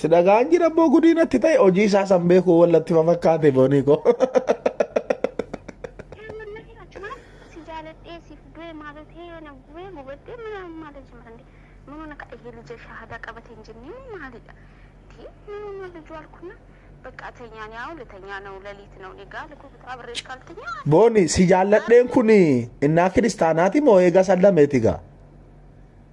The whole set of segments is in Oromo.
Si dhagaan jira immoo gudii natti ta'e hojii isaa san beekuu wallatti fafakkaate boonii koo. Booni si jaalladheen kun innaa kiristaanaati moo eega sallameeti gaa?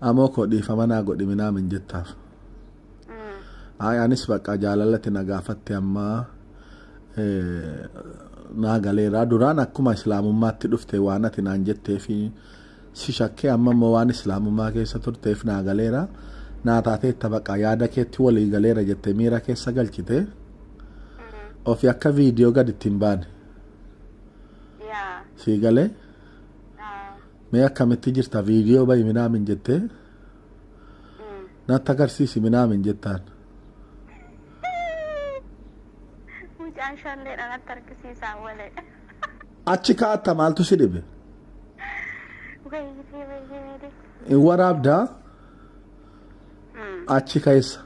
Amoo koo dhiifama naa godhi minaam hin jettaaf. Ay anis baqqaa jaalalatti na gaafatte ammaa eh, naa galeeraa duraan akkuma islaamummaatti dhufte waan ati naan jettee fi si shakkee amma immoo waan islaamummaa keessa turteef naa galeera naa taateetta baqqaa yaada keetti walii galeera jette miira keessa galchite ofi akka viidiyoo gad ittiin baane Yaa. sii galee Ah. Mee akkamitti jirta viidiyoo bahi minaamin jettee natti agarsiisi minaamin jettaan. Mucaan shalleedha natti argisiisaa walee. Achi kaatta maaltu si dhibe? Wayyitee wayyee meedee. Hin waraabdaa achi keessa.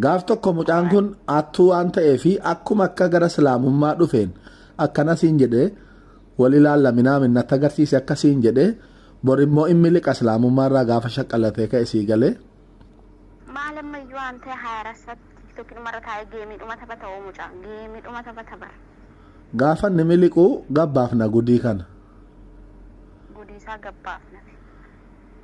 Gaaf tokko mucaan kun attuu waan ta'ee fi akkuma akka gara islaamummaa dhufeen akkana siin jedhee wal ilaalla minaamin natti agarsiise akka siin jedhee bor immoo inni liqa islaamummaa irraa gaafa shaqqallatee ka'e sii galee. Maal ammayyuu waan ta'e haayarasatti tiiktookii dhumarra taa'ee geemii dhuma taphata oo mucaan geemii dhuma taphata bara. Gaafa inni miliquu gabbaaf na gudii kana. Gudiisaa gabbaaf nafe.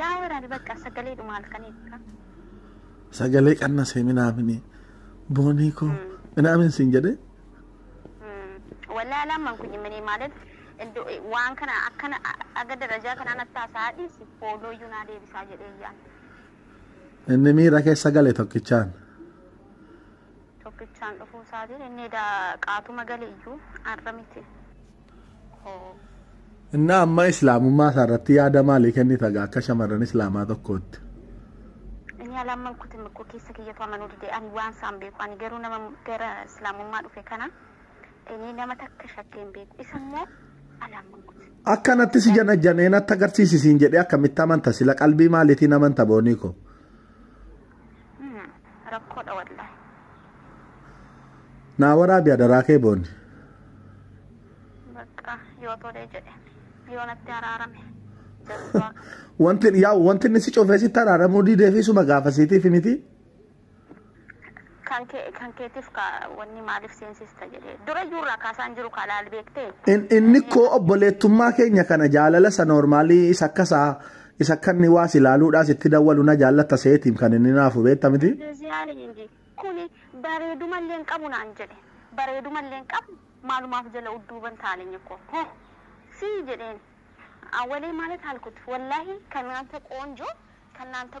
Yaa waraani bakka sagalee dhuma halkanii akka. Sagalee qannasee minaamini boonii koo minaamin siin jedhee. Walaa lamaan kun jimmanii maalet waan kana akkana aga darajaa kanaan attaa isaa dhiisi fooloo iyyuu naa deebisaa jedhee yaa. Inni miira keessa gale tokkichaan. Tokkichaan dhufuu isaatiin inni edaa qaatuma gale iyyuu har'a miti. Innaa amma islaamummaa isaa irratti yaada maalii kennita gaa akka shamarran islaamaa tokkootti? Inni alamman kutin koo keessa kiyyatu amanuu dide ani waan isaan beeku ani garuu nama gara islaamummaa dhufe kana inni nama takka shakkee hin beeku isa immoo alamman kutin. Akka natti si janajjanee natti agarsiisi siin jedhee akkamitti amanta sila qalbii maaliitiin amanta boonii koo? Hmm, rakkoodha wallahi. Naa waraabi adaraa kee booni. Bakka yoo tolee jedhe yoo natti araarame jazbaa kana. Wanti yaa wanti inni si cufee sitti araaramuu diidee fi suma gaafasiitiif miti. Kan kee kan keetiif ka wanni maaliif seensista jedhee dura iyyuu irraa kaasaan jiru kaa laal beektee. In- Inni koo obboleettummaa keenya kana jaalala isa noormaalii isa akkasaa Isa akka inni waa si laaluudhaa sitti dawwalu na jaallatta seetiim kan inni naafu beetta miti. Indezi alii inji kuni bareeduma illee hin qabu naan jedhe bareeduma illee hin qabu maalumaaf jala udduuban taaleny koo ho sii jedheen awwalee maalet alkut wallaahi kan naanta qoonjoo kan naanta